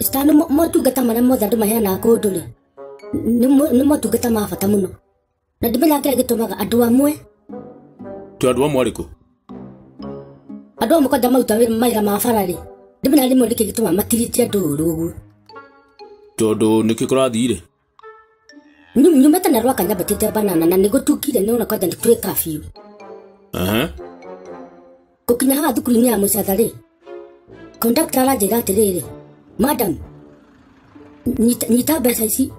Star, nĩ mo- motungata marĩa mothe andũ maheanaga kũndũ rĩ nĩ mo- nĩ motungata ma bata mũno na ndimenya kĩrĩa gĩtũmaga andũ amwe tå andå amwe arä kå andũ amwe kwanja maruta wĩra- mawĩra ma bara rĩ ndimenya rĩmwe nĩkĩ gĩtũmaga matirĩtie andũ ũru ũguo tondå nä kä kå rathire Nyu- nyumba tana rwa kanya batete banana na nigo tukire nona kwanja ndikure kafiu Aha. kukinya haha thukuru-inĩ ya mũcatha rĩ kondakta aranjĩra atĩrĩrĩ madam nyita- nyita mbeca ici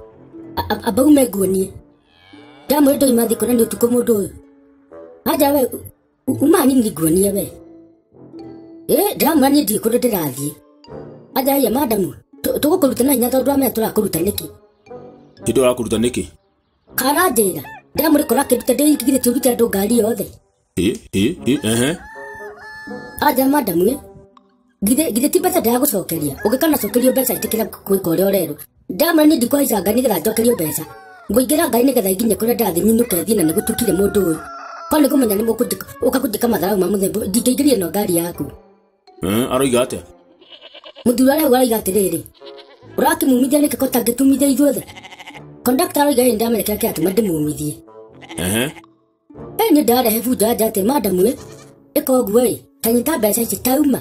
a- a- amba ume nguonie ndamwĩ ndoima thikũ na nĩ ũtukũ mũndũ ũyũ anja we uma nyini ndiguonie we ĩ ndĩramwĩra niĩ ndirĩ kũndũ ndĩrathiĩ ajaia madamu tũgũkũruta na hinya tondũ amenya tũrakũruta nĩkĩ Nĩ tũrakũruta nĩkĩ? karanjĩra ndĩramwĩra kora kĩruta ndĩingĩgire tũrute andũ ngari yothe Ĩ, ĩ, ĩ, ehe. anja madamu ĩ githĩ githĩ ti mbeca ndagũcokeria ũngĩkana cokerio mbeca ĩtĩkĩra gwĩka ũrĩa ũrerwo ndamana nĩ ndikũhaica ngai nĩgetha njokerio mbeca ngũingĩra ngai nĩgetha inginye kũrĩa ndathi nyinũke thiĩ na nĩgũtukire mũndũ ũyũ ko nĩ kũmenya nĩ mũkũnjĩka ũka kũnjĩka matharaũ ma mũthemba ũyũ, ndingĩingĩria no ngari yaku Eh, aroiga atĩa mũthuri arĩa ũraiga atĩrĩrĩ ũrakĩmumithia nĩkĩ ko tangĩtumithia ithuothe kondakta aroiga ĩ ndamenya kĩrĩa kĩratũma ndĩmumithie Ehe. ĩ nĩ ndarehe bunda njate madamu ĩ ĩka ũguo ĩ kanyita mbeca ici tauma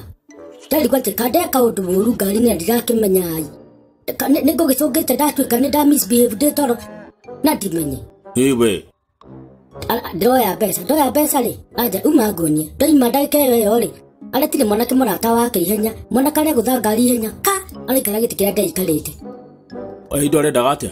ndarigwo atĩ kandeka ũndũ mũru ngari na ndirakĩmenya ai nĩ ngũgĩcũngĩte ndatuĩka nĩ nda misbehave ndĩ toro na ndimenye ĩ we Ara- ndoya mbeca ndoya mbeca rĩ anja uma ngonie ndoima ndagĩka ĩyo ĩyo rĩ aretire mwanake mũrata wake ihenya mwanake arĩa gũtha ngari ihenya ka araikara gĩtĩ kĩrĩa ndaikarĩte ĩ indo arendaga atĩa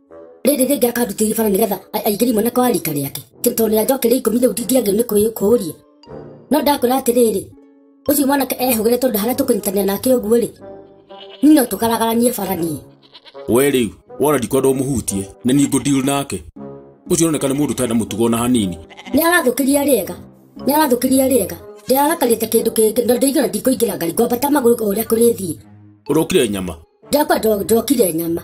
rĩrĩ rĩngĩ akarutĩria bara nĩgetha a- aingĩrie mwana kwa rika rĩake Tĩ- tondũ nĩanjokeria ikũmi rĩu ndingĩagĩrwo nĩ kũĩ- kũũria no ndakwĩra atĩrĩrĩ ũcio mwanake ehũgĩre tondũ harĩa tũkũnyitanĩra nake ũguo-rĩ niĩ no tũkaragaranie bara niĩ we rĩu wona ndikwenda ũmũhutie na niĩ ngũndiru nake ũcio ũroneka nĩ mũndũ ũtarĩ na mũtugo ona hanini nĩ arathũkĩria rĩega nĩ arathũkĩria rĩega ndĩrarakarĩte kĩndũ kĩngĩ na ndĩigana ndikũingĩra ngari ngwambata magũrũ o ũrĩa kũrĩthiĩ ũrokire nyama ndakwa ndokire nyama